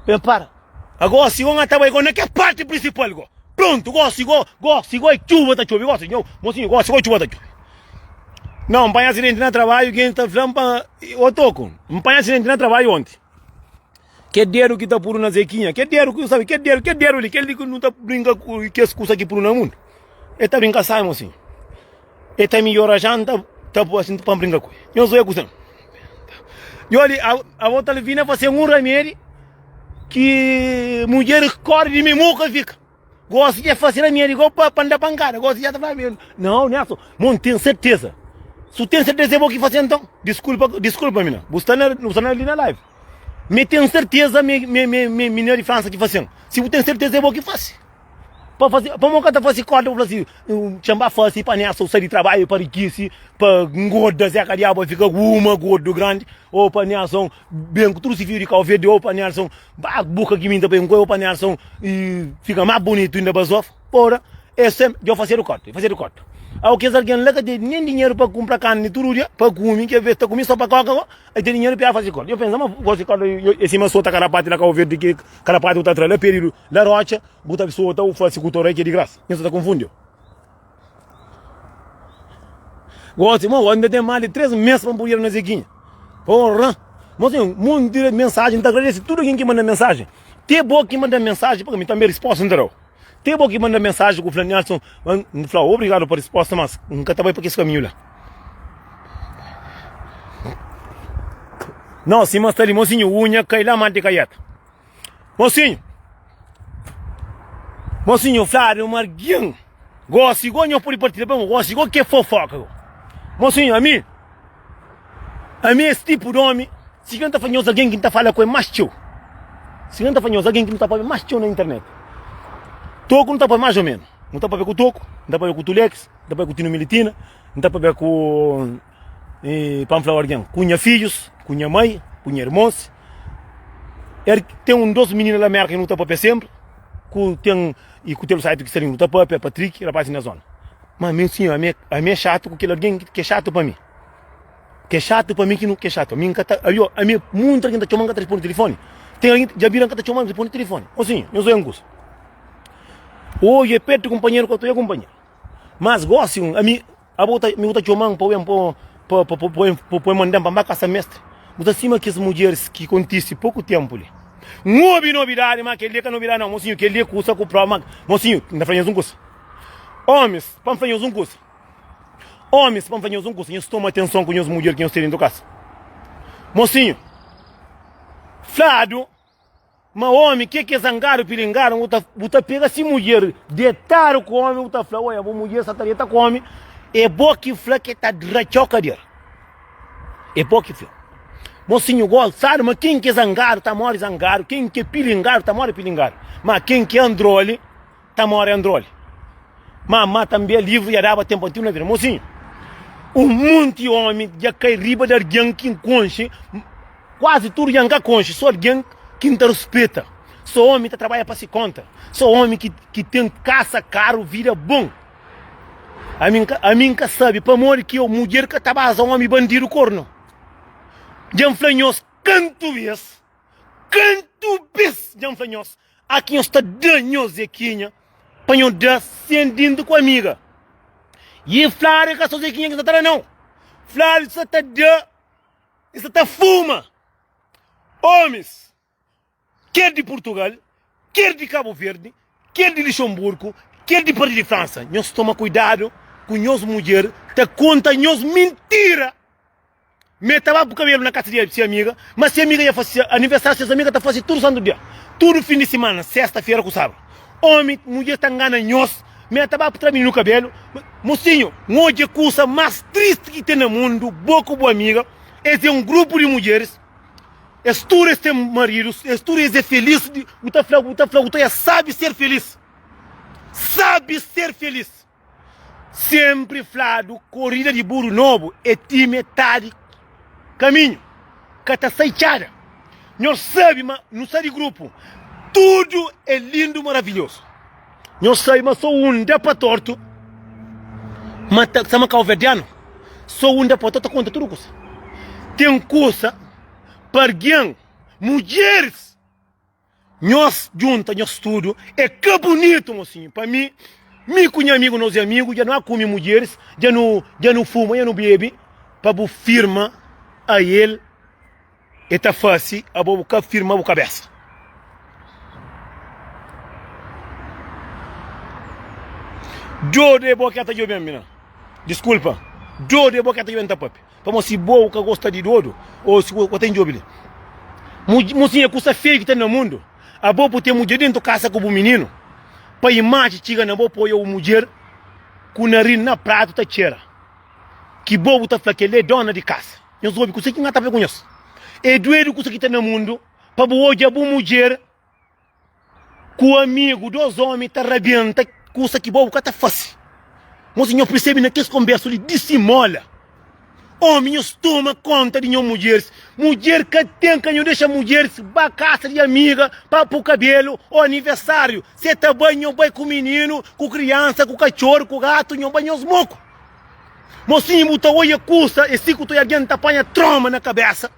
Ê para. Agosi go nga ta bai go na ke parti prinsipal go. Prontu, gosi go, gosi go e txuba ta txobi, gosi nho, mosinhu, gosi go e txuba ta txobi. Nau, N panha asidenti na trabaiu, gentis ta fla-m pa. Ô Toku, N panha asidenti na trabaiu onti. Ke dedu ki ta puru na Zekinha, ke dedu ki, sabi, ke dedu, ke dedu li, kel li ki nu ta brinka ku kes kusa ki puru na mundu. E ta brinka sai, mosinhu. E ta midjor ajan ta ta bu asin pa bringa ku e. Nhos oi kusen. Yo li abo ta vina pa sen un ramedi ki mudjer kori di mi mu ka fika. Gosi ja fasi ramedi go pa pa da pankada. Gosi ja ta fala mi não não é assim. Mon tem certeza. Su tem certeza é bo ki fasi então. Desculpa desculpa mina. Bu sta na bu sta na li na live. Me tem certeza me me me me minha de França ki fasi. Se bu tem certeza é bo ki fasi. Pa fasi, pamo ka ta fasi korda pa fla si, txen ba fasi pa Nérson sai di trabadju pa rikisi, pa ngorda zeka diabu pa fika ku uma gordu grandi, o pa Nérson ben ku tudu si fiju di kau verdi, o pa Nérson ba ku buka ki minta pa inkoi, o pa Nérson fika ma bunitu inda ba zofa, ora e sem, djo fasedu korda, e fasedu korda. Au kes algen la ka ten nen dinheru pa kunpra karni tudu dia pa kumi, ke ves ta kumi so pa koka ko, El ten dinheiro pia fazi corda. Eu pensa, mas gosta corda, e cima sota carapate na Cabo Verde, que carapate tá atrás, lá perido, lá rocha, buta sota, o faz com torre que é de graça. Isso tá confundiu. Gosta, mas ainda tem mais de três meses para poder na Zequinha. Porra! Mas tem um monte de mensagem, tá agradece tudo quem que manda mensagem. Tem boa que manda mensagem, porque me também resposta, entendeu? Te bo ki manda mensaji ku fla Nelson, N fla obrigadu pa resposta, mas N ka ta bai pa kes kaminhu la. Nau, sima sta li, mosinhu, unha kai la mante kaieta. Mosinhu, mosinhu, fladu ma argin gosi go nho pudi partida pa mo gosi go ke fofoka go. Mosinhu, ami, ami es tipu domi. Si ki nu ta fla nhos algen ki nu ta fala ku el más txeu? Si ki nu ta fla nhos algen ki nu ta pâpia más txeu na internet? Toku nu ta pâpia más ô ménus. Nu ta pâpia ku Toku, nu ta pâpia ku Tulex, nu ta pâpia ku Tino Militina, nu ta pâpia ku, pa N fla algen, ku nha fidjus, ku nha mai, ku nha irmons. Er ten un dôs minina la Mérka ki nu ta pâpia sénpri, ku ten i ku Telu Saitu ki sta li nu ta pâpia, Patriki, rapás di nha zóna. Má ami, ami, ami é xatu ku kel algen ki é xatu pa mi. Ke xatu pa mi ki nu ke xatu ami nka ta alio ami muntu algin ta txoman nka ta responde telefone ten algin dja bira nka ta txoman responde telefone o sin nhos oia un kusa oji e pertu kunpanheru ka ta oia kunpanheru mas gosi un ami abo ta ami bo ta txoman pa oia-m pa pa pa pa manda-m pa mba kasa mestre bo ta sima kes mudjeris ki kontisi poku tenpu li n obi nobidadi ma kel li e ka nobidadi nau mosinhu kel li e kusa ku prova ma mosinhu nta fla nhos un kusa omis pa nfla nhos un kusa Omis, pa N fla nhos un kusa, nhos toma atenson ku nhos mudjer ki nhos ten dentu kasa. Mosinhu, fladu ma omi ke ke zangadu pilingaru, bu ta, bu ta pega si mudjer detadu ku omi, bu ta fla, oia, bu mudjer sa ta deta ku omi, e bo ki fla ke ta dratxau kader. E bo ki fla. Mosinhu gosadu ma ken ke zangadu ta mori zangadu, ken ke pilingaru ta mori pilingaru, ma ken ke androli, ta more androle. Mamá ta mbia livro ya daba tempo antigo na vida. Mocinho, um monte homem já cai riba de alguém que conche, quase tudo já nunca conche, só alguém que não te respeita. Só homem que trabalha para se conta. Só homem que, que tem caça caro, vida bom. A mim, a mim nunca sabe, para morrer que eu, mulher que tabaza homem bandido corno. Já flanhos, canto vez, canto vez, já flanhos. A ki nhos ta da nhos Zekinha pa nhos da sen dinta ku amiga. Y e fladu, e ka so Zekinha ki sa ta da nau. Fladu ki sa ta da, e sa ta fuma. Omis, ker di Purtugal, ker di Kabu Verdi, ker di Lixonburku, ker di parti di Fransa, nhos toma kuidadu ku nhos mudjer ta konta nhos mintira. Me ta baba ku kabelu na kasa di se amiga, ma se amiga ya fasi se aniversariu. Ses amiga ta fasi tudu santu dia, tudu fin di simana, sesta-fera ku sabadu. Omi, mudjer ta ngana nhos. Me ta baba tra mininu kabelu. Mosinhu, N odja kusa mas tristi ki ten na mundu, bo ku bo amiga es e un grupu di mudjeris, es tudu es ten maridus, es tudu es e felis. Bu ta fla, bu ta fla, bu ta fla, ya sabi ser felis, sabi ser felis. Senpri fladu korida di buru nobu e ti metadi kaminhu ka ta sai txada nhos sabi ma nu sta di grupu tudu e lindu maravilhosu nhos sabi ma so un da pa tortu ma ta sama kauverdianu so un da pa tortu ta konta tudu kusa ten kusa pa argen mudjeris Nhos djunta nhos tudu é ka bunitu mosinhu pa mi mi ku nha amigu nos é amigu dja nu a kume mudjeris dja nu dja nu fuma dja nu bebe pa bu firma a el e ta fase abo bu ka firma bu kabesa djodu é bo ke ta djobe ami na diskulpa djodu é bo ke ta djobe ami ta pape Pamó si bo u ka gosta di dodo o si bo ta indjobi li muzinha kusa feio ki ten na mundu abo bu ten mudjer dentu kasa ku bu mininu pa imaji txiga na bo poia u mudjer ku narin na pratu ta txera ki bo bu ta fla kel li e dona di kasa nhos obi kusa ki nga ta fla ku nhos e duedu kusa ki ten na mundu pa bu odja bu mudjer. Ku amigu dos omi ta rabienta kusa ki bo bu ka ta fase. Mosi nho persebe na kes konbersu li disimola omi nho stoma konta di nho mudjeris. Mudjer ka ten ka nho dexa mudjeris ba kasa di amiga pa pu kabelu o anivesariu. Se ta bai nho bai ku mininu, ku kriansa, ku katxoru, ku gatu nho bai nhos moku. Mosinhu bu ta oia kusa e si ku toi algen ta panha troma na kabesa.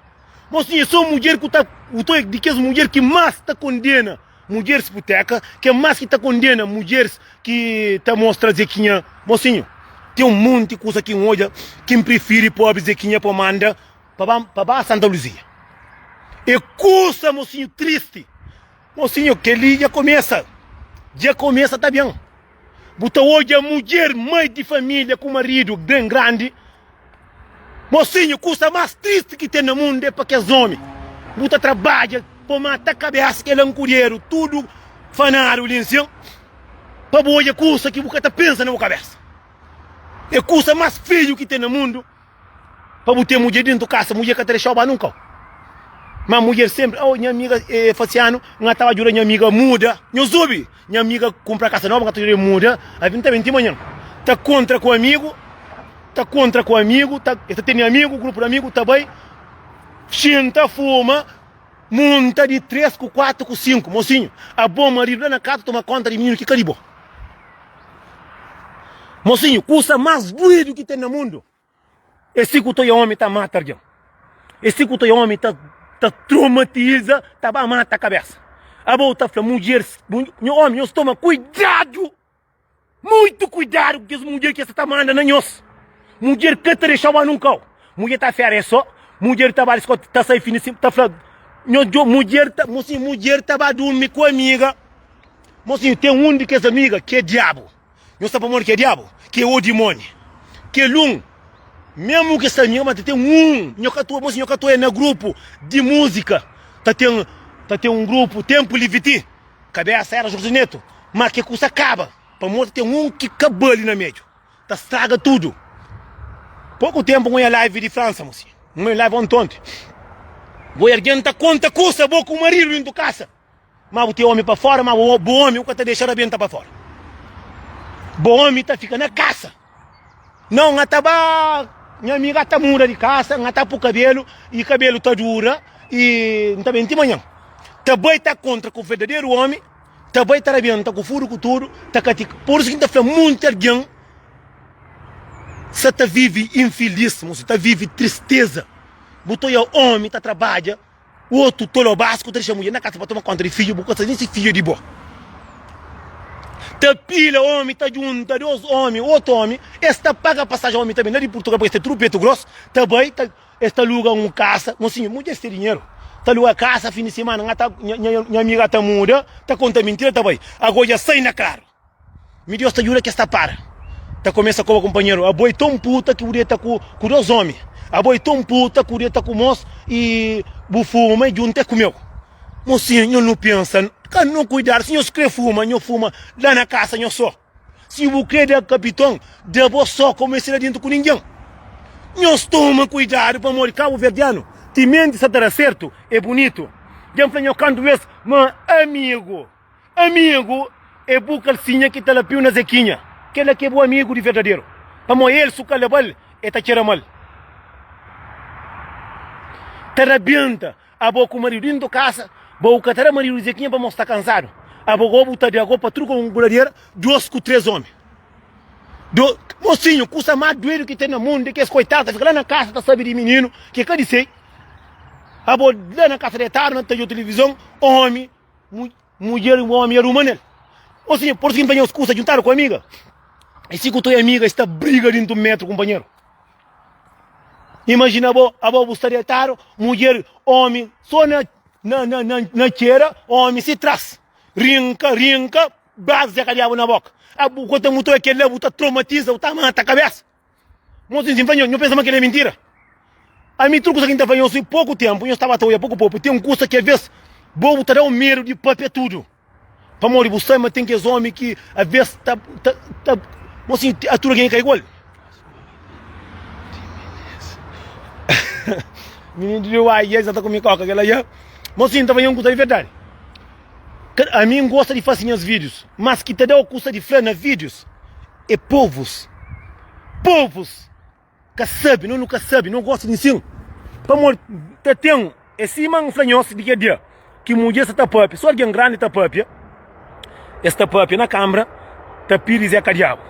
Bo sim é so mudjer ku ta u ta di kes mudjer ki mas ta kondena mudjers puteka ki é mas ki ta kondena mudjers ki ta mostra zekinha mosinho tem um monte kusa ki um odja kim prefiri pobre zekinha pa manda pa ba pa ba santa luzia é kusa mosinho triste Mosinho keli dja komesa dja komesa ta bem bu ta odja mudjer mai di familia ku marido bem grandi mosinho kusa mas triste ki tem na mundo é pa kes homi bu ta trabadja pa mata kabesa kel ankuderu tudo fanado li nsin pa bu odja kusa ki bu ka ta pensa na bu kabesa é kusa mas feio ki tem na mundo. Pa bu ten mudjer dentu kasa, mudjer ka ta dexau ba nunka. Ma mudjer senpri, oh nha amiga eh, Fasianu, n ka ta ba djuda nha amiga muda. Nhos zubi? Nha amiga kunpra kasa noba, n ka ta djuda el muda. Abi nta ben ti manhan. Ta kontra ku amigu, ta kontra ku amigu, ta, el ta tene amigu, grupu di amigu, ta bai, xinta, fuma, munta di tres ku kuatu ku sinku. Mosinhu, abo maridu la na kaza toma konta di mininu ki ka di bo. Mosinhu, kusa más duidu ki ten na mundu é si ku toi omi ta mata algen. É si ku toi omi ta ta tromatiza, ta ba mata kabésa. Abo ta fla mudjer, Nho omi, nhos toma kuidadu, muitu kuidadu ku kes mudjer ki es ta manda na nhos. Mudjer ka ta dexa-u ba nunkau. Mudjer ta fera, é so mudjer ta ba di skóla, ta sai fin di simana, ta fla, Nho djo, mudjer ta, mosinhu, mudjer ta ba durmi ku amiga. Mosinhu, ten un di kes amiga ki é Diabu. Nhos sta pamodi ki é Diabu? Ki é o dimoni. Kel un, mésmu ki es sta amiga, má ta ten un, nho ka ta, mosinhu, nho ka ta oi'é na grupu di múzika. Ta ten, ta ten un grupu, Ténpu li Viti, kabésa éra Jorge Neto. Má ke kusa kaba, pamodi ta ten un ki ka ba li na médiu, ta straga tudu. Poku ténpu n'go ia live di Fransa, mosinhu. N'go ia live onti-onti. Bo i algen ta konta kusa, bo ku maridu, dentu kasa. Ma bu ten omi pa fora, ma bu omi bu ka ta dexa rabenta pa fora. Bo omi ta fika na kasa. Nau nga ta ba nha ami ga ta muda di kasa, nga ta pu kabelu i kabelu ta dura i N ta ben ti manhan. Ta bai ta kontra ku verdaderu omi, ta bai ta rabenta ku fudu ku tudu, ta katika. Pur isu ki N ta fla munti algen sa ta vivi infilis, mos ta vivi tristeza. Bu ta oja omi ta trabadja. Otu tolo bas ku ta dexa mudjer na kasa pa toma konta di fidju bu ka sa nen si fidju é di bo. Ta pila omi ta djunta dos omi otu omi es ta paga pasaji omi ta ben la di purtugal paes ta tudu petu gros ta bai ta es ta aluga un kasa mon sinhor mudjer si ten dinheru ta aluga kasa fin di simana nha nha nha nha amiga ta muda ta konta mintira ta bai ago dja sai na klaru. Mi Deus ta djuda kes ta para. Ta kumesa koba kunpanheru. Abo e ton puta ki bu deta ku ku dos omi. Abo e ton puta ki bu deta ku mos i bu fuma i junta e ku meu. Mosinha, nho nu pensa, ka nu kuidadu. Si nhos kre fuma, nho fuma la na kasa nho so. Si bu kre da kapiton, da bo so ka bu meste la dintu ku ningen. Nhos toma kuidadu pamodi kabuverdianu ti menti sa ta da sertu e bunitu. Dja N fla nho kantu bes ma amigu. Amigu é bu kalsinha ki ta lapiu na Zekinha. Kel-la ki é bu amigu di verdaderu. Pamó el, si bu ka leba-l, el ta txera ma-l. Ta rabienta abo ku maridu inda o kasa, ba bu ka ta da maridu di Zekinha pamó sta kansadu. Abo gobi bu ta da gobi pa tudu ka un guladera dos ku tres omi. Do, mosinhu, kusa más duedu ki ten na mundu é kes koitadu ta fika la na kasa ta sabe di mininu ki é ka di se. Abo la na kasa detadu na ta djo tilivizon, omi. Mudjer i omi aruma nel. Ô sinha, por fim panha-u skusa djuntadu ku amiga. I si ku toi amiga i sta briga dintu un metru kunpanheru. Imajina bo, abo bu sta detadu, mudjer, omi so na na na na na txera, omi si tras. Rinka, rinka, bas dja ka diabu na boka. Abo bu kota mutoi kel la, bu ta tromatiza, bu ta mata kabesa. Nho tintin fla, nho pensa ma kel-li é mintira. Ami, tudu kusa ki N ta fla nhos, poku ténpu nhos staba ta odja poku popu. Ten kusa ki avês bobu ta da-u medu di pâpia tudu, pamodi bu sabe ma ten kes ómi ki avês ta ta bo si a tudu algen ki ka igual. Mininu di Deus, ai, es ta kume kóka kel-la dja. Nho tintin ta fla nhos un kusa di verdadi, ami N gosta di fase nhas vídius, mas ki ta da-u kusa di fla na vídius. É povus. Povus ka sabi, no nu ka sabi, no gosta di insin. Pamodi ta ten, é sima N fla nhos di kel dia ki mudjer sta ta pâpia, si algen grandi ta pâpia, es ta pâpia na kánmara, ta pidi Zé Kadiabu.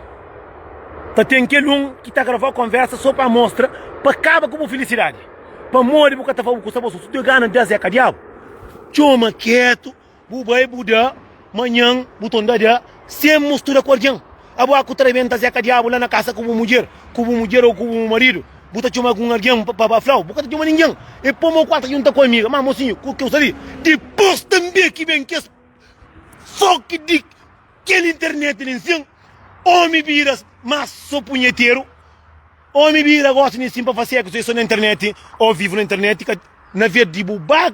Ta ten kel un ki ta gravá konversa sô pa mostra, pa kaba ku bu filisidadi. Pamodi bu ka ta faze bu ku sta bo so, si bu ten gana di da Zé Kadiabu, txoma kétu. Bu bai bu da manhan bu ton da da sem mustura ku algin. Abo aku ta rebenta zeka diabu la na kasa ku bu mudjer, ku bu mudjer ou ku bu maridu, bu ta txoma algun algin pa ba flau, bu ka ta txoma ningin. E po mau ku al ta djunta ku amiga. Ma mosinhu ku keu sali. Dipos tanbe ki ben kes foki di kel internet li nsin, omi biras mas so punheteru. Omi bira gosi ni sim pa fá sexo é so na internet o vivo na internet ka na vez di bu ba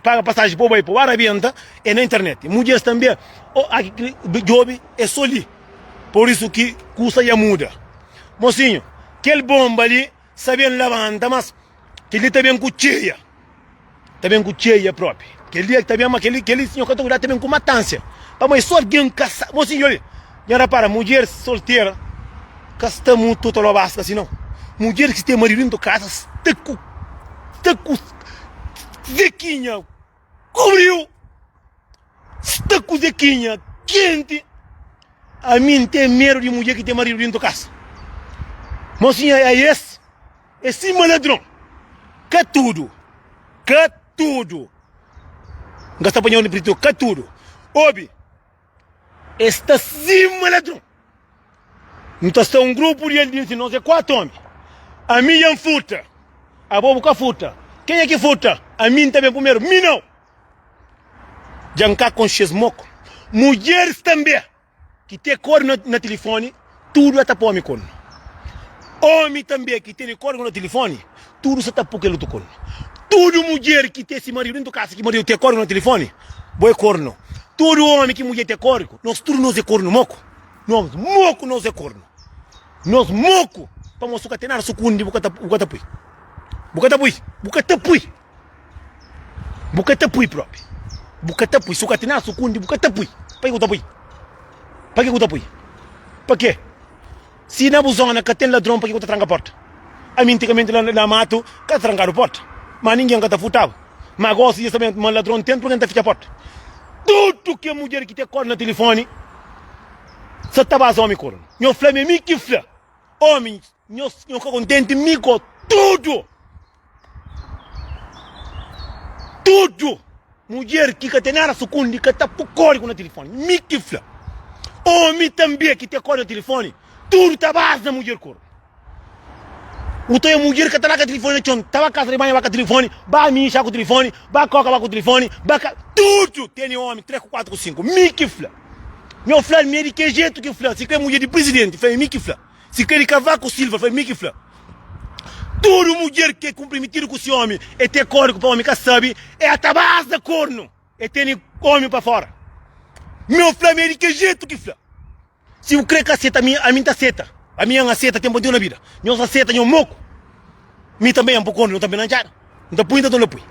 paga pasaji pa bu bai pa bu arabenta é na internet mudjeris tanbe o aki djobi é so li por isso ki kusa ya muda mosinho kel bomba li sa ben labanta mas kel li ta ben ku txeia. ta ben ku txeia propi. Kel dia ki ta ben, ma kel kel sinhor ka ta kuidá, ta ben ku matansia. Pamodi so algen kasá, bo si obi, nha rapara, mudjer soltera ka sta mu to ta loba aska si nau. Mudjer ki ten maridu dento kasa sta ku sta ku zekinha kubriu, sta ku zekinha kenti. Ami n ten medu di mudjer ki ten maridu dento kasa. Mo sinha é esse? É sim ma ladron. Ka tudo. Ka tudo. Nga sta panhau no pritor. Ka tudo. Obi. É sta sim ma ladron. Não tá só um grupo de eles, nós é quatro homens. A mim é um furta. A bobo cá furta. Quem é que furta? A mim também primeiro. Mim não. Já cá com xes moco. Mulheres também. Ki te kor na tilifoni, tudu e ta pome kon. Omi tambe ki tene korgo na tilifoni, tudu sa ta po kel otu kon. Tudu mudjer ki te si maridu dentu kasa, ki maridu te korgo na tilifoni, bo e korno. Tudu omi ki mudjer te korgo, nos tudu nos e korno moku. Nos moku nos e korno. Nos moku, pamodi su ka ten nada sukundi, bu ka ta pui. Bu ka ta pui. Bu ka ta pui. Bu ka ta pui propi. Bu ka ta pui. Si bu ka tinha sukundi, bu ka ta pui. Paki bu ta pui? Paki bu ta pui? Pake? Si na bu zona ka ten ladron, paki bu ta tranka porta? Ami antigamenti la na matu ka ta trankadu porta. Ma ningin ka ta furtaba. Ma gosi dja sabendo ma ladron ten, purki N ta fitxa porta? Tudu ke mudjer ki ta kore na tilifoni sa ta ba zomi koronu. Nho fla mi, ami ki fla. Omi. Nhos nhos ka kontenti mi ko tudu tudu mudjer ki ka ten nada sukundi ka ta pu kodigu na tilifoni mi ki fla omi tanbe ki ten kodigu na tilifoni tudu ta baza na mudjer kor u ta oiu mudjer ka ta la ka tilifoni na txon ta ba kasa di banha ba ka tilifoni ba mixa ku tilifoni ba koka ba ku tilifoni ba ka tudu tene omi tres ku kuatu ku sinku mi ki fla nho flal mi é di ke jetu ki fla si kre mudjer di prizidenti fla mi ki fla. Si ka di Kavaku Silva fla mi ki fla. Tudu mudjer ke kumprometidu ku si omi e te koriku pa omi ka sabi e ata bas da kornu e teni omi pa fora. Mi o fla mi e di kel jetu ki fla. Si bu kre ka seta mi ami nta seta. Ami N aseta tenpu antigu na bida. Nhos aseta nho moku. Mi tanbe N po kornu no tanbe na ntxada. N ta pui nta ton la pui.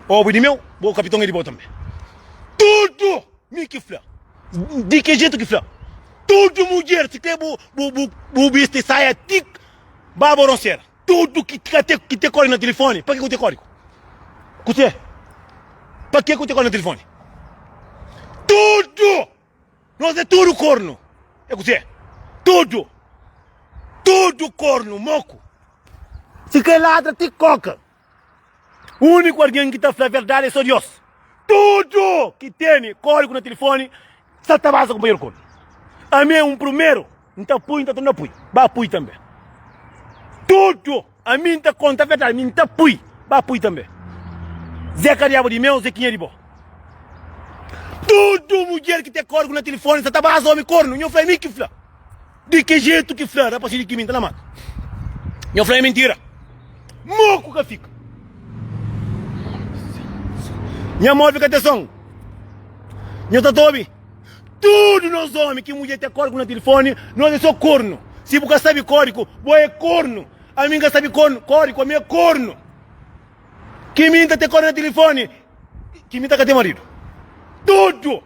Obu e di meu, bo kapiton e di bo tanbe. Tudu! Mi ki fla. Di ki jeito ki fla? Tudo mulher, se tem bu, bu, bu, bu bicho de saia, tic, baba roncera. Tudo que, que, te, que te corre no telefone, para que, que te corre? Cusé? Para que, que te corre no telefone? Tudo! Nós é tudo corno. É cusé? Tudo! Tudo corno, moco. Se quer ladra, te coca. Úniku algen ki ta fla verdadi é sô Diós. Tudu ki tene kódigu na tilifóni sa ta basa kunpanheru kódu. Ami é un primeru, N ta pui, N ta torna pui, ba pui tanbê. Tudu ami N ta konta verdadi, mi N ta pui, ba pui tanbê. Zé ka diabu di meu, Zekinha di bo. Tudu mudjer ki ten kódigu na tilifóni sa ta basa ómi kornu, nho fla é mi ki fla. Di ki jetu ki fla rapasi di kimi n ta na mata? Nho fla é mintira. Moku ka fika. Nha mó fika te son. Nho ta ta obi. Tudu nos omi ki mudjer te kóriku na tilifoni, nos é só kornu. Si bu ka sabe kóriku, bo é kornu. Ami n ka sabe kornu, kóriku, ami é kornu. Kimi n ta te kóriku na tilifoni, kimi ta ka te maridu. Tudu!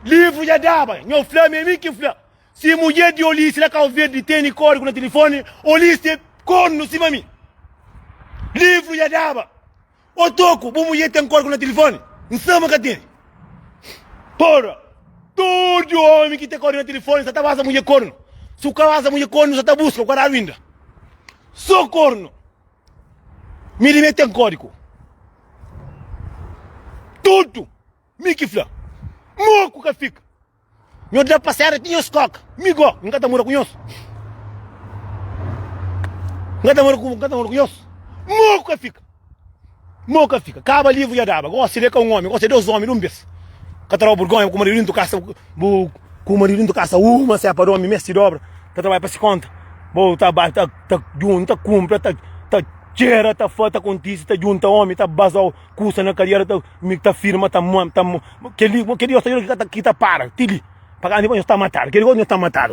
Livru dja daba, nho fla ma é mi ki fla. Si mudjer di Olis la Kau Verdi teni kódigu na tilifoni, Olis ten kornu sima mi. Livru dja daba. Ô Toko, bu mudjer ten kódigu na tilifoni? N sa ma ka teni. Pora, tudu ómi ki ten kódigu na tilifoni sa ta basa mudjer kornu. Si bu ka basa mudjer kornu, sa ta buska, bu ka dadu inda. Sô kornu. Mi di mi é ten kódigu. Tudu. Mi ki fla, Nho ku ka fika. Nho da pa séra ti nho skoka. Mi go, N ka ta mora ku nhos. N ka ta mora ku, ka ta mora ku nhos. Nho ku ka fika. Nho ku ka fika. Kaba livu ya daba. Go, si le ka un omi, go, si é dos omi di un bes. Ka ta daba burgonha ku maridu dintu kasa, bu, ku maridu dintu kasa uma, se é pa da omi mes ti dobra, ta trabadja pa si konta. Bo ta ba, ta, ta junta, ta kunpra, ta, ta txera, ta fa, ta kontisi, ta junta omi, ta baza. Kusa na kadiera ta mi ta firma ta mom ta mo keli mo keli osta kita kita para tili para ani nós ta matar keli nós ta matar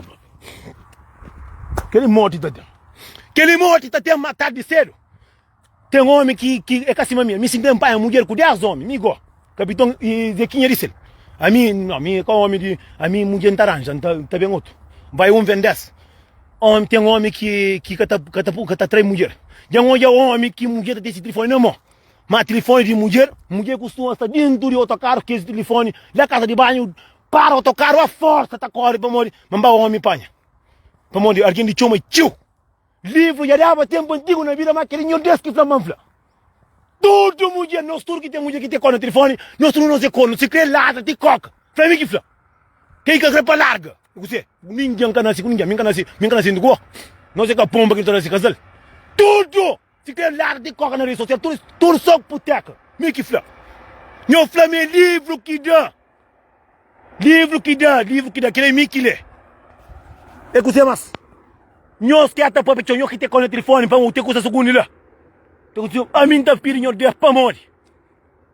keli morte ta tem keli morte ta tem matar de cedo tem homem que que é cacima minha me se tem pai mulher com 10 homens me go capitão e zequinha disse a mim não a mim com homem de a mim mulher tá arranja tá tá bem outro vai um vem 10 homem tem homem que que cata cata cata três mulher já um homem que mulher tem esse telefone na mão Má tilifóni di mudjer, mudjer kustuma sta dentu di otokaru kes tilifóni la kaza di banhu, para otokaru a forsa ta kóre pamodi ma n ba ómi panha. Pamodi algen di txoma txeu. Livru dja daba ténpu antigu na bida, má kel-li nhos des ki fla ma n fla. Tudu mudjer, nos tudu ki ten mudjer ki ten kó na tilifóni, nos tudu nos é kornu, si krê ladra ti kóka. Fla mi ki fla. Kel ki ka krê pa larga. I kuzê? Ningen ka nase ku ningen. Mi n ka nase, mi n ka nase inda ku bo. Nos é ka ponba ki ta nase kazal. Tudu! Si ten ladu di koka na rede sosial tudu tudu so puteka mi ki fla nho fla ma é livru ki da livru ki da livru ki da kila é mi ki lé é kuzê mas nho sker ta papia txeu nho ki te kau na tilifoni pamodi te kuza sugundi la te kuza ami n ta pidi nho dé pamodi.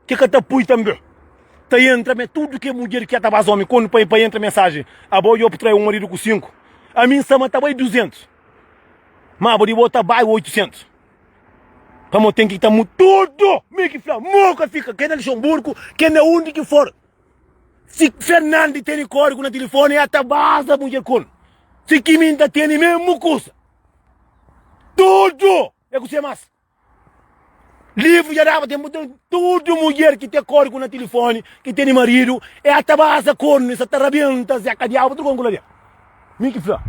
Ke ka ta pui tanbe ta entra me tudo ke mudjer ke ta bas omi kondu pa entra mensajen abo yo putrai um marido ku 5 ami nsa ma ta bai 200 ma abo di bo ta bai 800 pamo tem ki ta mu tudo mi ki fla mo ka fika ke na lixonburku ke na undi ki for si fernandi teni kodigu na tilifoni ya ta baza mudjer kondu si kimi nta teni memu kusa tudo e ku se mas Livro dja daba tempo então tudo mulher que tem cor com na telefone que tem marido é a tabasa corno essa tá rabenta zeca diabo tudo com ali mi que fla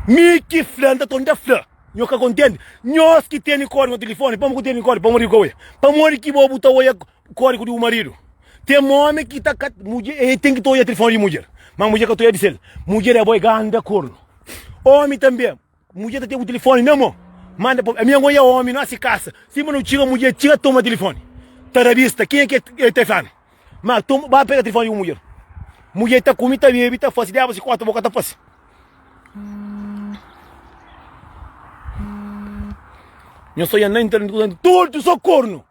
mi que fla então tonda fla nho que contente nós que tem cor com telefone para que tem cor para morrer com para morrer que bobo tá olha cor com o marido tem homem que tá mulher ele tem que olhar telefone de mulher mas mulher que tá olhar de cel mulher é boi ganda corno homem também Mudjer ta ten ku tilifoni na mo manda pa ami ango ya omi nosi kasa sima no txiga mudjer txiga toma tilifoni ta rabista kenha ke el ta fla-m ma toma ba pega tilifoni di bu mudjer mudjer ta kumi ta bebi ta fasi diaba si kota bo ka ta fasi nho sonha na internet ku tudu so kornu.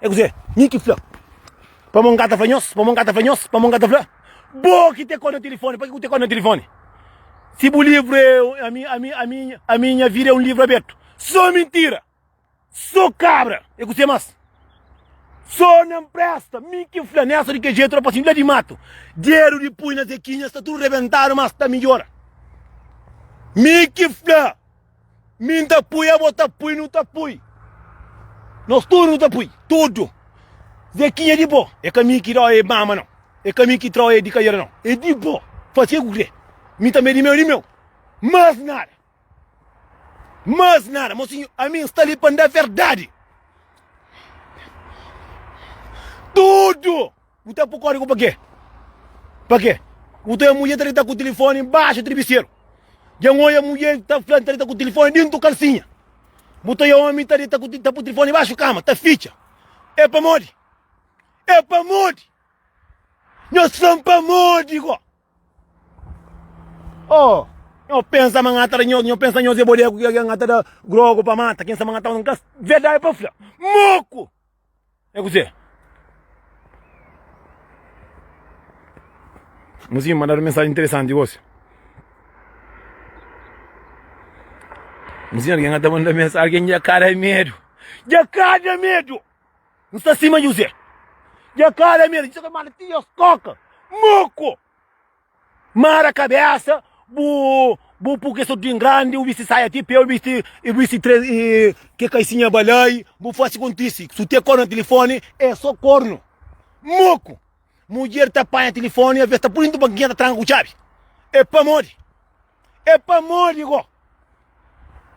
É kuzê? Mi ki fla. Pamô N ka ta fla nhos, pamô N ka ta fla nhos, pamô N ka ta fla. Bo ki tê kó na tilifóni, pa ki bu tê kó na tilifóni? Si bu livru é, ami, ami, ami, ami nha vida é un livru abertu. Sô mintira! Sô kabra! É kuzê más? Sô na N presta, mi ki fla. N é sa di kel jetu la, pa si N fla di matu. Dedu di pui na zekinha sta tudu rebentadu, má sta midjora. Mi ki fla. Mi N ta pui, abo ta pui, nu ta pui. Nos tudu nu ta pui, tudu. Zekinha di bo, é ka mi ki dá e mama não. É ka mi ki trau e di cadeira não. É di bo, faz que ku crê. Mi também é di meu, di meu. Mas nada. Mas nada, mocinho, a mim está ali para dar verdade. Tudo! Bu ta pô kódigu pa kê? Pa kê? Bu ta oia mudjer ta dita ku tilifoni inbaxu tribiseru. Dja-m oia mudjer ta fla-m ta dita ku tilifoni dintu kalsinha. Bu ta oia ómi ta dita ku ta pô tilifoni inbaxu kama, ta fitxa. É pamodi? É pamodi? Nhos fla-m pamodi gó? Oh, nho pensa ma nha ta da, nho pensa nhos é bodégu nha ta da grogu pa mata. Kensa ma nha ta mata. N ka. Verdadi pa fla, moku! É kuzê? Mozinho mandadu mensaji interesanti gosi. Mozinho algen ata manda mensaji, algen dja kada medu. Dja kada medu! N sta sima José. Dja kada medu, dja kada manda ti as koka. Moko! Mara kabésa bu bu pur ke so tin grandi u bisti saia ti pé u bisti i bisti tres i ke kaisinha balai bu fasi kontisi su te kor na tilifoni e so kornu moku mudjer ta panha tilifoni aves ta pudi ntu bankinha ta tranka ku txabi e pamodi e pamodi go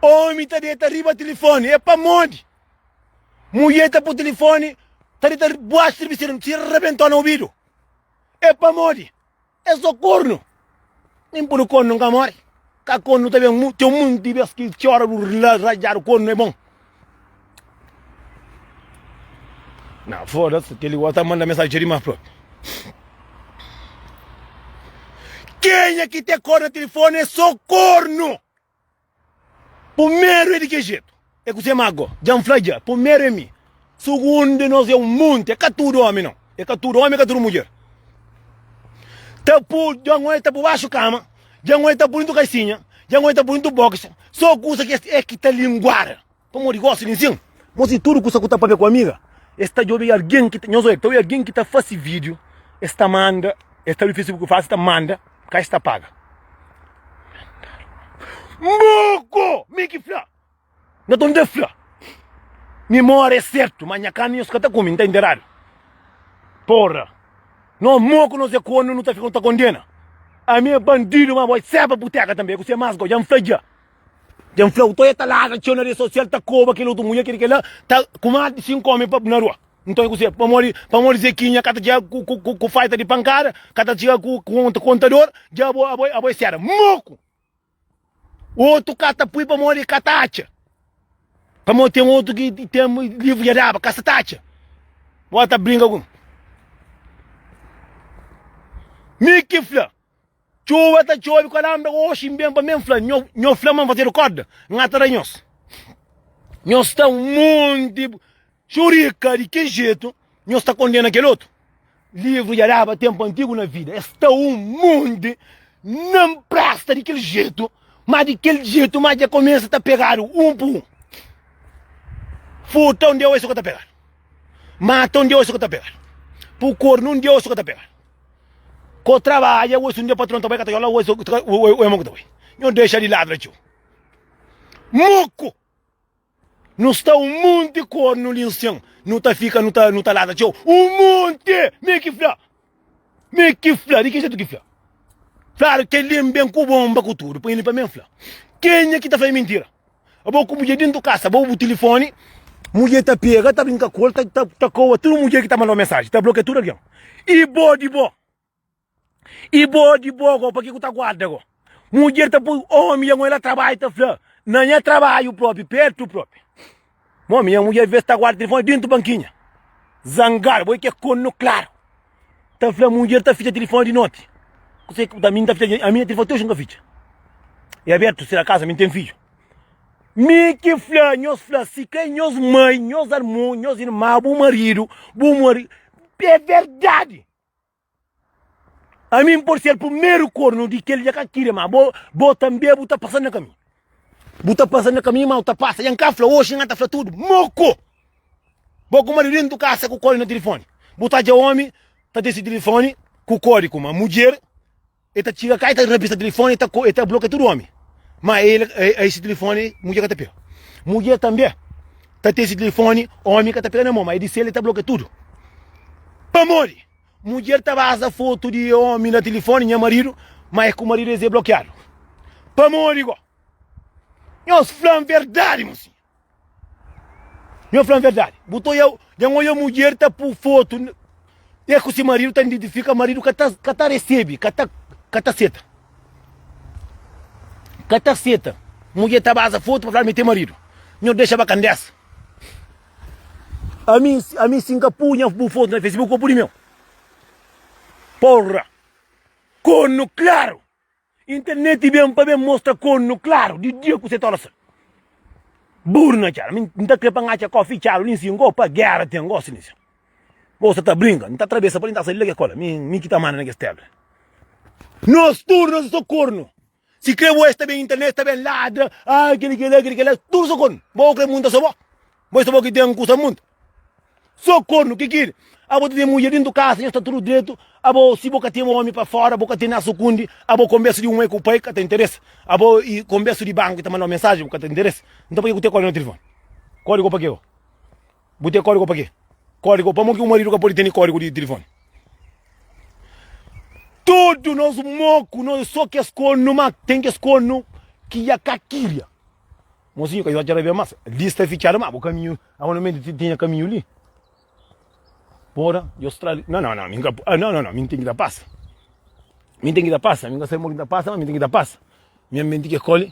omi ta deta riba tilifoni e pamodi mudjer ta pu tilifoni ta deta buaxi tiribiseru si rabentona ubidu É pamodi es so kornu. Nin puru kornu nka mori. Ka kornu ta ben mu. Ten monti di bes ki txora bu rla rajadu kornu é bon. Na foda-s, kel-li gosi ta manda mensajin txeu dimas propi. Kenha ki ten kornu na tilifoni é so kornu. Pumeru é di ke jetu, é kuzê má go, dja N fla dja, pumeru é mi, sugundu nos é un monti, é ka tudu omi nau, é ka tudu omi é ka tudu mudjer ta pu, dja N oi ta pu baxu kama, dja N oi ta pu dintu kaisinha, dja N oi ta pu dintu boxi, so kusa ki es é ki ta linguada. Pamodi gosi di nsin. Mos di tudu kusa ku ta papia ku amiga. Es ta djobe algin ki ta, nhos oi, ta oi algin ki ta fase video, es ta manda, es ta abi facebook fásil, ta manda, ka es ta paga. Mbuku! Mi ki fla! N ta tenta fla! Mimória é sertu, ma nha karni nhos ka ta kume, N ta enteradu. Porra! No mo ku nos é kornu nu ta fika nu ta kondena. Ami é bandidu, ma bo é seba buteka tanbe, é ku se mas go, dja N fla dja. Tem fla uto e ta ladra txeu na rede social ta koba kel otu mulher kel li kel la ta ku más di 5 omi na rua nton e ku se pamodi pamodi zekinha ka ta txiga ku ku ku ku faita di pankada ka ta txiga ku ku kontador dja abo abo abo e sera moku otu ka ta pui pamodi ka ta atxa pamodi tem otu ki tem livru dja daba ka sa ta atxa bo ta brinka ku mi mi ki fla Txuba ta txobi kalambra oxi N ben pa mi N fla nho Nho fla ma N fazedu kóda N ata da nhos Nhos ta un monti xurika Di ki jetu nhos ta kondena kel otu Livru dja daba ténpu antigu na vida Es ta un monti Na N presta di kel jetu Má di kel jetu má dja kumesa ta pegadu un pa un Furta un dia oxi sô ka ta pegadu Mata un dia oxi sô ka ta pegadu Pukor-nu un dia oxi sô ka ta pegadu. Ko trabadja ois un dia patron ta bai ka ta yola ois ois mo ku ta bai. Nho dexa di ladu la txeu. Muku! Nu sta un munti kornu li nsen. Nu ta fika nu ta nu ta lada txeu. Un munti! Mi ki fla. Mi ki fla. Di ki jetu ki fla? Flaru kel li n ben ku bonba ku tudu. Poi li pa mi n fla. Kenha ki ta fla i mintira? Abo ku mudjer dentu kasa bo bu tilifoni mudjer ta pega ta brinka ku el ta ta ta koa tudu mudjer ki ta manda bo mensaji ta blokia tudu algen i bo di bo i bo di bo go paki ku ta guarda go mudjer ta poi omi ya ngoila trabalhu ta fla na nha trabalhu propi pertu propi momi nha mudjer ves ta guarda tilifoni dentu bankinha zangadu bo i ke konu klaru. ta fla mudjer ta fitxa tilifoni di noti kusé ki bu ta mi ta fitxa ami tilifoni ti oji nka fitxa e abertu si acaso ami ten fidju mi ki fla nhos fla si kai nhos mai nhos armu nhos irma bu maridu bu mari é verdadi ami por ser primeru kornu di kel dja ka kiri ma bo bo tanbe bu ta pasa na kami Bu ta pasa nha kaminhu mau ta pasa Nha nka fla oxi nha ta fla tudu Moko Bo ku maridu dentu kasa ku kodi na tilifoni Bu ta dja omi ta disi tilifoni ku kodi kuma mudjer e ta txiga ka e ta rabisa tilifoni e ta blokia tudu omi ma e isi tilifoni mudjer ka ta pega Mudjer tanbe ta tisi tilifoni omi ka ta pega na mo ma e disel e ta blokia tudu Pamodi Mudjer ta baza fotu di omi na tilifoni nha maridu ma e ku maridu es e blokiadu pamodi go nhos flan verdadi mosinha nho flan verdadi bu ta oiau nha nho oiau mudjer ta pu fotu e ku si maridu ta identifika maridu ka ta ka ta resebi ka ta ka ta seta ka ta seta mudjer ta baza fotu pa fla mi ten maridu nho dexa ba kandesa Ami, ami si nka pui nha bu foto na Facebook o pudi meu? Porra! Kornu klaru! Interneti ben pa ben mostra kornu klaru di dia ku se ta losa. Buru na txala, mi n ta kre pa n atxa kofi txalu li nsi ngo pa gera ten gosi li nsi. Bo sa ta brinka, n ta trabesa pa li n ta sa li la ke kola, mi, mi ki ta manda na kes terra. Nos tudu nos e so kornu! Si kre bo es ta ben internet ta ben ladra ah kile kila kile kila tudo so corno bo kre munta so bo bo so bo ki tem kusa munta so corno ki kile abo ta tem mulher dentro casa nhos ta tudo direito abo si bo ka tem homem pa fora bo ka tem na sucundi abo conversa de um mãe ku pai ka ta interessa abo e conversa de banco ta mandabo mensagem ka ta interessa então pa ke ku te kore na telefone kore ko pa ke ko. Bu ten kódigo pa ke? Kódigo? Pamodi ki un maridu ka pode tene kódigo di tilifoni? Tudu nos moku, nos é sô kes konu, má ten kes konu ki dja ka kiria. Mosinhu, ka dja ka rabia más. Li sta fitxadu, má bu kaminhu, amanumenti ti tinha kaminhu li. Bora, dja ostra li. Nau, nau, nau, mi nka, ah, nau, nau, nau, mi nten ki ta pasa. Mi nten ki ta pasa, mi nka sabe mo ki nta pasa, má mi nten ki ta pasa. Nha menti ke kole.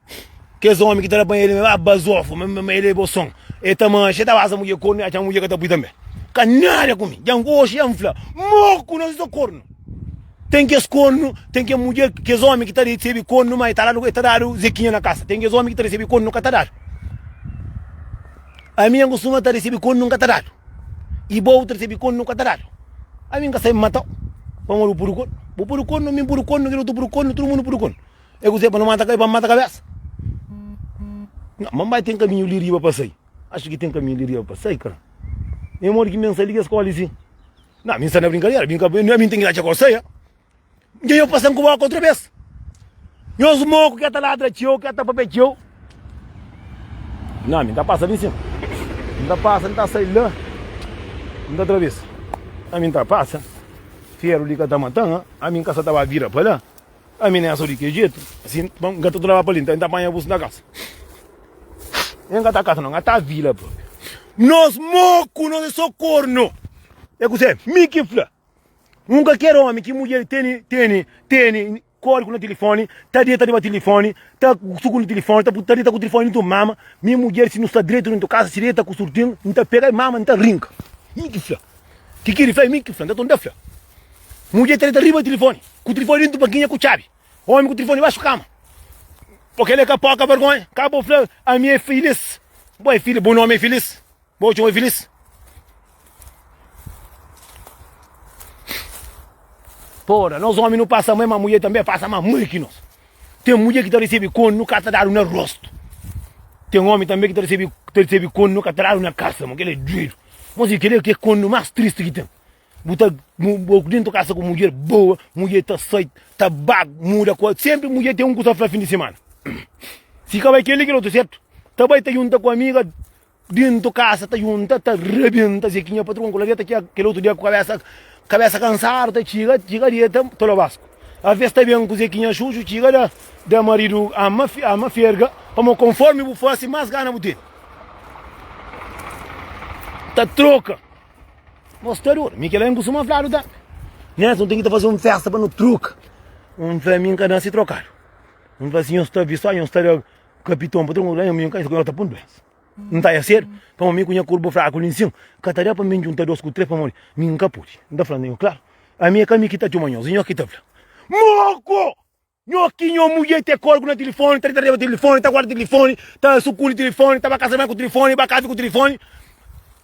Kes omi ki ta da pa el, ah, bazofa, ma, ma, ma el é bo son. El ta manxa, el ta basa mudjer kornu, el atxa ma mudjer ka ta pui tanbe. Ka nada ku mi. Djan, oxi djan fla, moku, nos tudo kornu. Ten kes kornu, ten kes mudjer, kes omi ki ta resebi kornu, ma el ta dadu, el ta dadu zekinha na kasa. Ten kes omi ki ta resebi kornu, ka ta dadu. Ami djan kustuma ta resebi kornu, ka ta dadu. I bo, bu ta resebi kornu, ka ta dadu. Ami N ka sai mata-u, pamodi bu pudi kornu. Bu pudi kornu, mi N pudi kornu, kila otu pudi kornu, tudu mundu pudi kornu. É kuzê pa nu mata kai? Pa nu mata kabésa? Nha, ma N bai ten kaminhu li riba pa sai? Axa ki ten kaminhu li riba pa sai, kara? É modi ki mi N sai di kes kó li si? Nha, mi N sta na brinkadera, bin ka pa mi, ami N ten ki atxa kó sai, a? Dja nha pasa-m ku bóka otra bes. Nhos moku ke ta ladra txeu, ke ta papia txeu. Nha, mi N ta pasa li si. N ta pasa, N ta sai la, N ta trabesa. Ami N ta pasa, feru li ka ta mata-m, a? Ami N ka sa ta ba bira pa la. Ami ne so di kel jetu si N ka ta traba pa li N ta panha bus na kasa N ka ta kasa no N ta vila propi Nos moku nos e so korno E kuse mi ki fla Un ka ker omi ki mudjer teni teni teni kódiku na tilifoni ta deta riba tilifoni ta sukundi tilifoni ta ta deta ku tilifoni dintu mama mi mudjer si nu sta dretu dintu kasa si deta ku surtin N ta pega mama N ta rinka mi ki fla kikidi fla mi ki fla N ta tenta fla Mudjer treta riba telefone, ku telefone dentro bankinha ku txabi. Omi ku telefone baxo kama. Porque ele é capoca, vergonha. Acabou falar, a minha é feliz. Boa é feliz, bom nome é feliz. Boa tchau é feliz. Porra, nós homens não passa mãe, mas mulher também passa mais mãe que nós. Tem mulher que tá recebendo quando nunca está dado no rosto. Tem homem também que tá recebendo, tá recebendo quando nunca está dado na casa, mano. Ele é doido. Mas ele quer que é quando mais triste que tem. Bu ta bu dintu kasa ku mudjer boa, mudjer ta sait, ta bag, muda kuas. Sempri mudjer ten un kusa fla fin di semana. Si ka bai keli kila otu sertu. Ta bai ta junta ku amiga dintu kasa ta junta ta rabenta ze ki nha patron ku laveta ki kila otu dia ku kabesa kabesa kansadu ta txiga txiga deta ta lo basku. A ves ta ben ku ze ki nha xuxu txiga da da maridu ama ama ferga pamo konformi bu fasi mas gana bu tene. Ta troka. Gostador, mi kela en kustuma fladu ta Nés nu ten ki ta faze un festa pa nu troka Un fla mi nka nase trokadu Un fla si nhos ta bi so nhos ta da kapiton pa tronku Nhos ta pun duensa N ta ya sedu pamo mi ku nha kurpu fraku li nsin Ka ta da pa mi N djunta dos ku tres pamodi mi nka pudi N ta fla nho klaru ami e ka mi ki ta txoma nhos e nhos ki ta fla Moko! Nho ki nho mudjer te korgu na tilifoni, ta dita deba tilifoni, ta guarda tilifoni, ta sukuli tilifoni, ta ba kasa di banhu ku tilifoni, ba kafi ku tilifoni.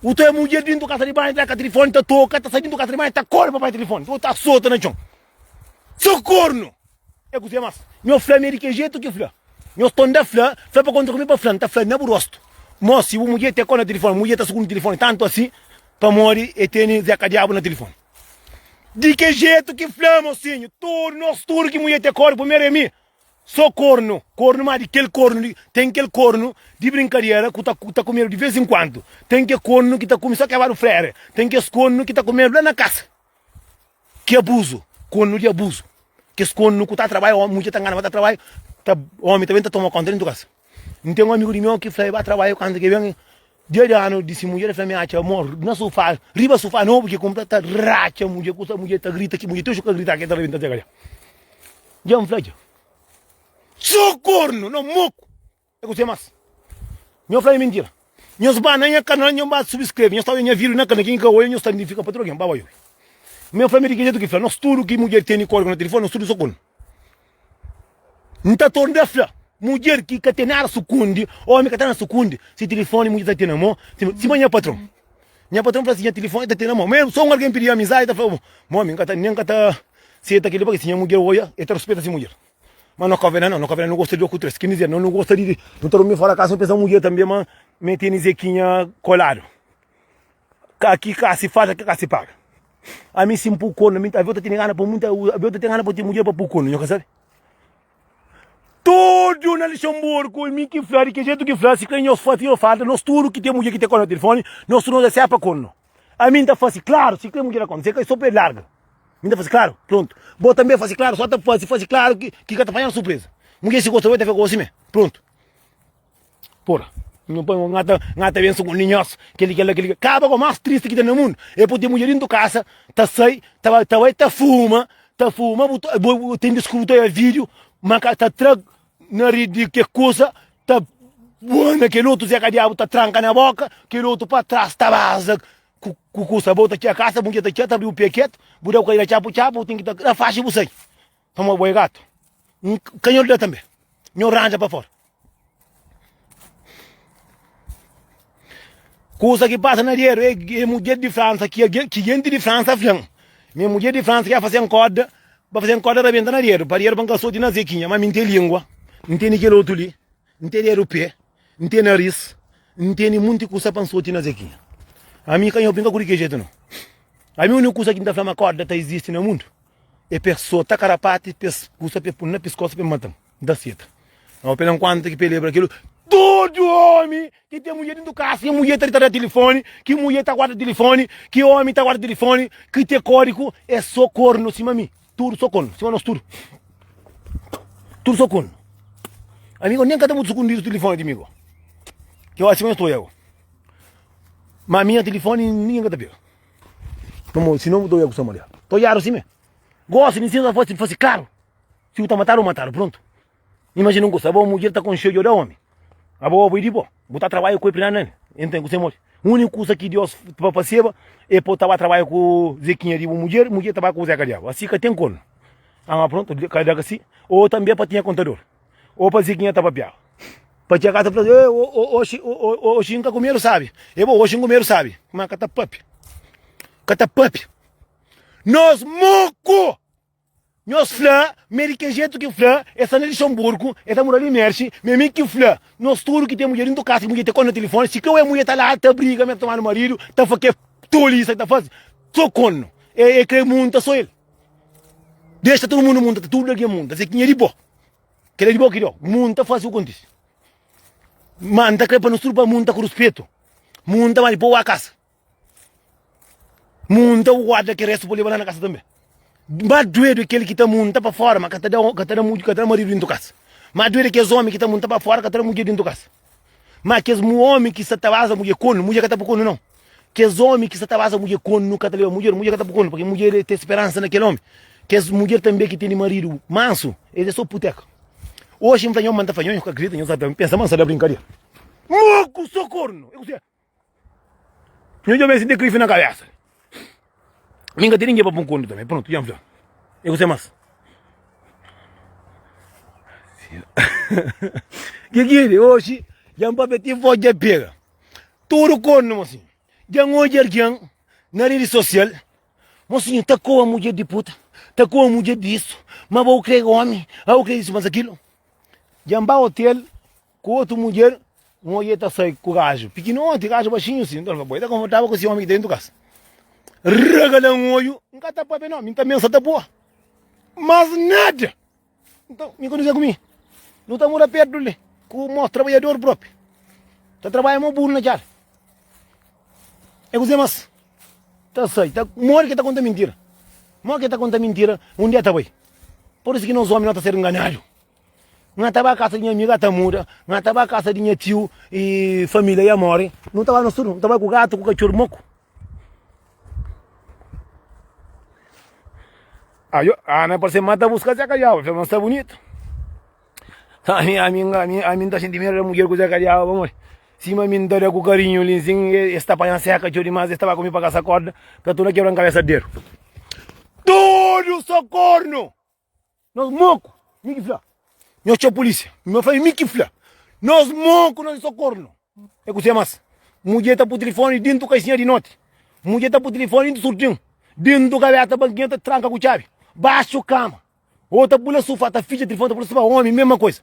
U ta mudjer dintu kasa di banhu, ta ka tilifoni, ta toka, ta sai dintu kasa di banhu, ta kore pa bai tilifoni, bo ta sota na txon. So kornu! E kuzê mas. Nho fla mi é di ke jetu ki fla. Nho sta nda fla, fla pa kontra ku mi pa fla, nta fla na bu rostu. Mo, si bu mudjer te kore na tilifoni, mudjer ta sukuli tilifoni tantu asin pamodi e teni zeka diabu na tilifoni. Di ke jetu ki fla mosinhu tudu nos tudu ki mulher te kóru primeru é mi so kornu kornu má di kel kornu li ten kel kornu di brinkadera ku ta ta kumedu di vez inkuantu ten ke kornu ki ta kume so kebadu frere ten kes kornu ki ta kumedu la na kasa ki abuzu kornu di abuzu kes kornu ku ta trabai mulher ta ngana ma ta trabai ta omi ta ben ta toma konta di tudu kasa. N ten un amigu di meu ki fla el ba trabadja kantu ke ben dia di anu di si mudjer, el fla mi atxa mo na sufá, riba sufá nobu ki kunpra ta ratxa mudjer ku sa mudjer ta grita ki mudjer ti oxi ka grita ke ta rabenta txeka dja. Dja N fla dja. Txu kornu na moku e ku se mas. Nho fla e mintira. Nhos ba na nha kanal nho ba subscreve, nhos ta odja nha video na kanal ki nho ka odja nhos ta identifika pa tudu algen, ba ba iobi. Meu fla mi di ki jetu ki fla, nos tudu ki mudjer teni kódigu na telefoni nos tudu so kornu. N ta torna ta fla mudjer ki ka ten nada sukundi, ómi ka ten nada sukundi, si tilifóni mudjer ta ten na mô, sima nha patron. Nha patron fla si nha tilifóni ta ten na mô, ma el sô un algen pidi-m amizadi, el ta fla bo, ma ómi, N nen ka ta seta kel-li, pabia si nha mudjer oia, el ta ruspeta si mudjer. Ma na Kovela nau, na Kovela nu gosta di oku tres, kende di nu nu gosta di, nu ta durmi fora kasa, nu pensa mudjer tanbe, ma mete-n i Zekinha koladu. Ka ki ka si falta ki ka si paga. Ami si n pui kornu ami avi ta tene gana pa muita avi ta tene gana pa ten mudjer pa pui kornu nho ka sabi. Tudu na Luxemburgo mi ki fla di ki jetu ki fla si kla nho fasi yo falta nos tudu ki ten mudjer ki ta kola na telefoni nos tudu nos ta sepa kornu. Ami n ta fasi klaru si kla mudjer ta kola se ka so pa el larga. Mi ta fasi klaru prontu bo tanbe fasi klaru so ta fasi fasi klaru ki ki ka ta panha na surpresa. Mudjer si gosta bo el ta fika gosi me prontu. Por. Nhu poi un ngata, ngata ben sugundi nhos, keli kela keli. Kaba ko mas tristi ki ta na mundu, e po te mudjer dintu kasa, ta sai, ta bai, ta bai ta fuma, ta fuma, bu ta, bu ten di skruta ya video, ma ka ta tra nari di ke kusa, ta bua na kel otu zeka diabu ta tranka na boka, kel otu pa tras ta baza ku ku kusa, bo ta txia kasa, bu mudjer ta txia, ta abri bu pia ketu, bu da ku el na txapu txapu, bu ten ki ta, na faxi bu sai. Pamodi bo é gatu, N ka nho da tanbe, nho ranja pa fora. Kusa ki pasa na rieru é é mudjer di Fransa ki algen ki jenti di Fransa fla-m ma é mudjer di Fransa ki ta faze-m korda pa faze-m korda rabenta na rieru pa rieru pa N ka soti na zekinha. Má mi N ten língua, N tene kel otu li, N ten rieru pé, N ten naris, N tene monti kusa pa N soti na zekinha. Ami ka nho pinga ku di kel jetu nau. Ami úniku kusa ki N ta fla ma korda ta izisti na mundu. E persoa ta karapati pa es kusa pa e pul na piskosa pa e mata-m. N ta seta. N obi-l enkuantu ki pa e lebra kil tudu omi ki ten mudjer dentu kasa. Ki mudjer ta di ta da tilifoni, ki mudjer ta guarda tilifoni, ki omi ta guarda tilifoni, ki te kori ku e so kornu sima mi. Tudu so kornu sima nos tudu. Tudu so kornu. Ami go nen ka ta mutu sukundidu tilifoni di mi go. Ki oras sima nhos ta oja go. Ma ami nha tilifoni ningen ka ta pega. Pamodi si nomi to ya ku sta maria. To yaru sime. Gosi di sinsa fasi fasi klaru. Si bu ta matadu bu matadu prontu. Imajina un kusa abo mudjer ta konxe odjo da omi. Abo obi di bo. Bu ta trabaju ku e plinanu nani. E ntende ku se modi. Uniku kusa ki Dios pa faseba e po ta ba trabaju ku zekinha di bu mudjer, mudjer ta ba ku bu zeka diabu. Asi ka ten kornu. Ama prontu ka da ka si. O tambi e pa tinha kontador. Ô pa Ziquinha ta papiava. Pa Tchacá ta fla, eh, o- o- oxi, o- o- o- oxi, N ka kumedu sabi. E bo, oxi N kumedu sabi. Má ka ta pape. Ka ta pape. Nos muku! Nhos fla, ma é di kel jetu ki N fla, el sta na Lixanburgu, el ta mora li Mershi, ma é mi ki fla. Nos tudu ki ten mudjer dentu kasa, ki mudjer ta konta na tilifoni, si ka oe mudjer ta la ta briga, mê ta toma nu maridu, ta fla kel tolisa ki ta faze, so konu. E, e kre munta so el. Dexa tudu mundu munta, tudu algen munta. Ziquinha é di bo. Kel é di bo ki dó. Mun nta fase ku kontise. Ma nta kre pa nos tudu pa mun nta ku ruspetu. Mun nta mali poua kasa. Mun nta guarda ki restu pa leba la na kasa tanbe. Ma duedu é kel ki ta mun nta pa fora ma ka ta da ka ta da ka ta da maridu dintu kasa. Ma duedu é kes omi ki ta mun nta pa fora ka ta da mudjer dintu kasa. Má kes omi ki sta ta baza mudjer kónu, mudjer ka ta pokónu nau. Kes omi ki sta ta baza mudjer kónu ka ta leba mudjer, mudjer ka ta pokónu, purkê mudjer é ten speransa na kel omi. Kes mudjer tanbe ki tene maridu mansu, es é sô putéka. Oxi, N fla nhos ma N ta fla nhos, nhos ka kridita, nhos sta ta pensa ma N sta da brinkadera. Moku, sô kórnu! É kuzê? Nhu djobe e sinti krifi na kabesa. Mi ka ten ningen pa pun kontu tanbe. Prontu, dja N fla. E kuse mas? Ke ki é de oxi? Dja N papia ti vos dja pega. Tudu kontu mo sinhu. Dja N odja algen na redi sosial. Mo sinhu ta koa mudjer di puta, ta koa mudjer di isu, ma bo bu kre omi, a bu kre isu mas akilu. Dja N ba otel. Ku otu mudjer, un odja el ta sai ku gaju pikinoti, gaju baxinhu si. Nton el fla, Bo, e ta konfortável ku si ómi ki ta dentu kas? Rega da un odju, N ka ta pâpia nau, mi N ta mensa ta pua. Mas nada! Nton, mi ka nu sai ku mi. Nu ta mora pértu li ku mos trabadjador própi. Ta trabadja mo buru na txada. É kuzê más. Ta sai, ta modi ki el ta konta mintira. Modi ki el ta konta mintira, un dia ta bai. Pur isu ki nos ómi, nos ta ser nganadu. N ta ba kasa di nha amiga ta muda N ta ba kasa di nha tiu e família ya mori Nu ta ba nos tudu, nu ta bai ku gatu ku katxor moku Ajo, Ana parse ma ta buska Zé Kadiaba Fla, ma sta bunitu Ami, ami, ami, ami N ta xinti meda da mudjer ku Zé Kadiaba pamodi sima mi N ta da ku karinhu li nsin Es ta panha seka txeu dimás Es ta ba ku mi pa kasa korda Ka tuna kebra-m kabesa dedu Tudu so kornu! Nos moku, mi ki fla. Nhos txeu pulísia, mi ma fla é mi ki fla. Nos moku, nos é so kornu. É kuzê más? Mudjê ta pui tilifoni dintu kaixinha di noti. Mudjê ta pui tilifoni dintu surtin. Dintu gabeta balkinha ta tranka ku txabi. Baxu kama ô ta pula sufá ta fitxa tilifoni ta pula sufá. Ómi, mésma kuza.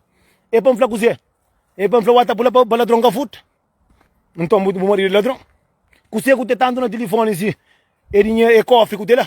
É pa N fla kuzê? É pa N fla wá ta pula pa ladron ka furta? Nton bu maridu é ladron? Kuzê ku ten tantu na tilifoni si? É dinheru, é kófi ku ten la?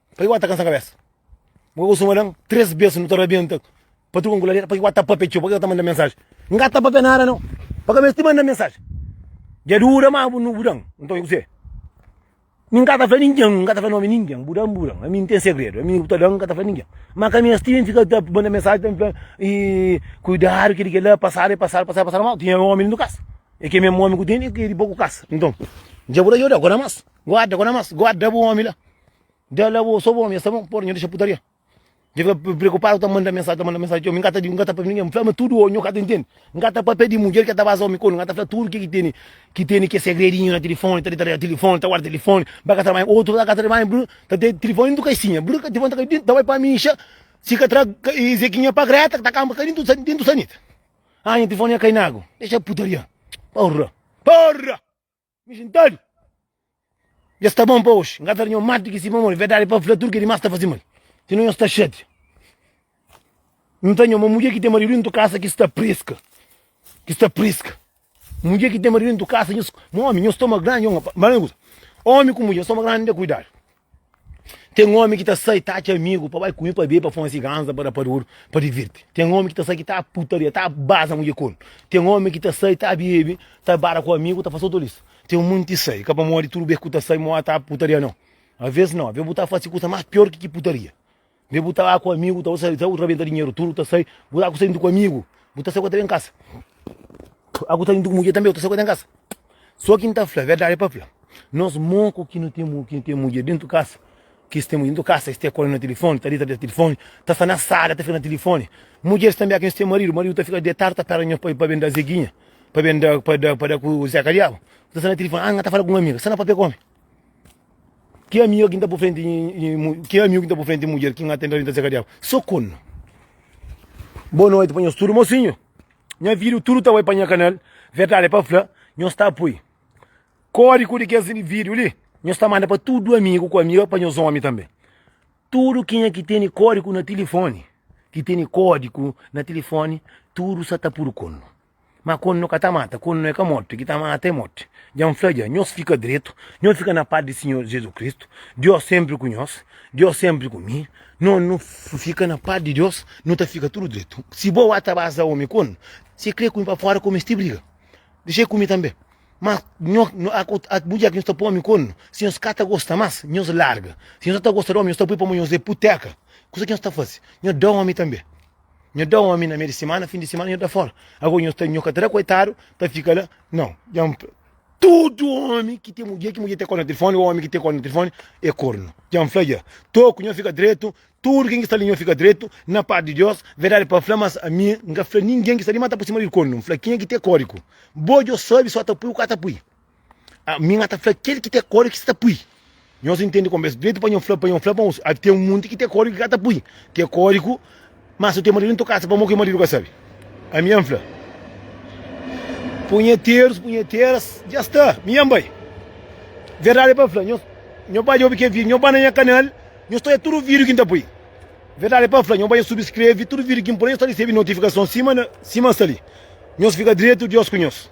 Paki wata kansa kabesa? Mka ku suma dan 3 bes nu ta rabenta pa truka nkuladeira paki wata papia txeu paki wata manda mensaji nga ta papia nada nau pa kabes ti manda mensaji dja dura ma bu bu dan nton i kuse mi nka ta fla ninken nka ta fla nomi ninken bu dan bu dan ami nten segredu ami ku ta dan nka ta fla ninken ma kabes ti fika ta manda mensaji ta fla i kuidadu kila kila pasadu e pasadu pasadu pasadu mau tinha omi lindu kas e ke mesmu omi ku tene e ke di bo ku kas nton dja bu da yoda goda mas guarda goda mas guarda bu omi la Dja la bo, so bo mi, sa bon, por nha dixa putaria. Dja fica pre- preocupado, ta manda mensagem, ta manda mensagem, tio, mi ngata di, ngata pa ninguém, mi fala, mas tudo o nho cata entende, ngata papia di mulher que ta baza homem quando, ngata fala tudo que que tene, que tene que segredinho na telefone, ta detalha telefone, ta guarda telefone, ba cata banho, outro ta cata banho, bru, ta te telefone dentro caixinha, bru, ca telefone ta cai dentro, ta vai pa mixa, si ca tra, ca, e zequinha pa greta, que ta camba cai dentro, sa- dentro sanita, ah nha telefone nha cai na agu, dixa putaria, porra, porra. Mi juntadu dja sta bon pa oxi. N ka ta da nho mati di ki si pamodi. Verdadi pa fla, tudu kel di mas ta fase mal. Sino nho sta xatia. N ta nho ma mudjer ki ten maridu dentu kasa ki sta preska. Ki sta preska. Mudjer ki ten maridu dentu kasa, nhos, ma omi, nho stomak grandi, nhos, n ka pa, n fala-l un kuza, omi ku mudjer, nhos stomak grandi, n da kuidadu. Tem homem que tá sai tá te amigo para vai comigo para beber para fumar cigarranza para para ouro para divertir tem homem que tá sai que tá putaria tá baza mulher com tem homem que tá sai tá bebe tá bara com amigo tá fazer tudo isso tem um monte sai que para morrer tudo bem que tá sai morrer tá putaria não às vezes não às vezes botar fazer coisa mais pior que que putaria Be bu ta ba ku amigu ta usa ta rabenta dinheru tudo ta sai bu aku sai ku amigu bu ta sai ku ta bem casa aku ta ku mulher também ta sai ku ta casa só quem ta fla verdade pa fla nós moco que não tem que tem mulher dentro casa que tem mulher dentro casa este corre na telefone tá dentro da telefone tá só na sala tá fica na telefone mulheres também aqui tem marido marido tá fica deitado tá perto para para bem da zeguinha para bem da para da para da com o Zé Cariabo tá só na telefone ah tá falando com uma amiga só na papel come Ki amiu ki n ta bu frenti ki amiu ki n ta bu frenti mudjer ki n atenta li ta seka diagu so kun. Boa noite pa nhos tudo mocinho nha video tudo ta bai pa nha canal verdade pa fla nhos ta pui codigo di kes video li nhos ta manda pa tudo amigo ku amiga pa nhos homem tambe tudo kenha ki teni codigo na telefone ki teni codigo na telefone tudo sa ta pudu kun. Ma quandu no ka ta mata, quandu no e ka morti, ki ta mata e morti. Dja N fla dja, nhos fika dretu, nhos fika na paz di Sinhor Jesus Kristu, Dios sempri ku nhos, Dios sempri ku mi. No no fika na paz di Dios, no ta fika tudu dretu. Si bo a ta baza omi quandu se kre ku mi pa fora komesti briga, dexei ku mi tambe. Ma nho bu dja ki nhos ta poi omi quandu, si nhos ka ta gosta mas, nhos larga. Si nhos no ta gosta di omi, nhos ta poi pamo nhos e puteka. Kusa ki nhos ta fasi, nhos da omi tambe. Nho da omi na mei di semana, fim di semana nho da fora. Agora nho sta, nho ka ta da coitado ta fica la, não. Já me fala, tudo homem que tem mulher, que mulher tem corno no telefone, ou homem que tem corno no telefone, é corno. Já me fala, já. Toco, nho fica direito, tudo quem que está ali nho fica direito, na parte de Deus, verdade para falar, mas a mim, nunca fala ninguém que está ali, mas está por cima de corno. Fala, quem é que tem código? Boa, eu sabe, só tá pui, o cara tá pui. Ah, mi nga ta fla kel ki te kóliku sta pui. Nhos intende como es direito pa nho fla, pa nho fla pa uns. Tem um monte que te kóliku ka ta pui. Te kóliku, mas o te marido em tua casa, pamor que o marido ka sabe. A minha fla. Punheteiros, punheteiras, já está, minha mãe. Verdade é para falar, nós, nós vai ouvir que vídeo, nós vai na minha canal, nós estou tudo vídeo que está põe. Verdade é para falar, nós vai subscrever, tudo vídeo que põe, nós recebe notificação, cima, cima está ali. Nós fica direito, Deus com nós.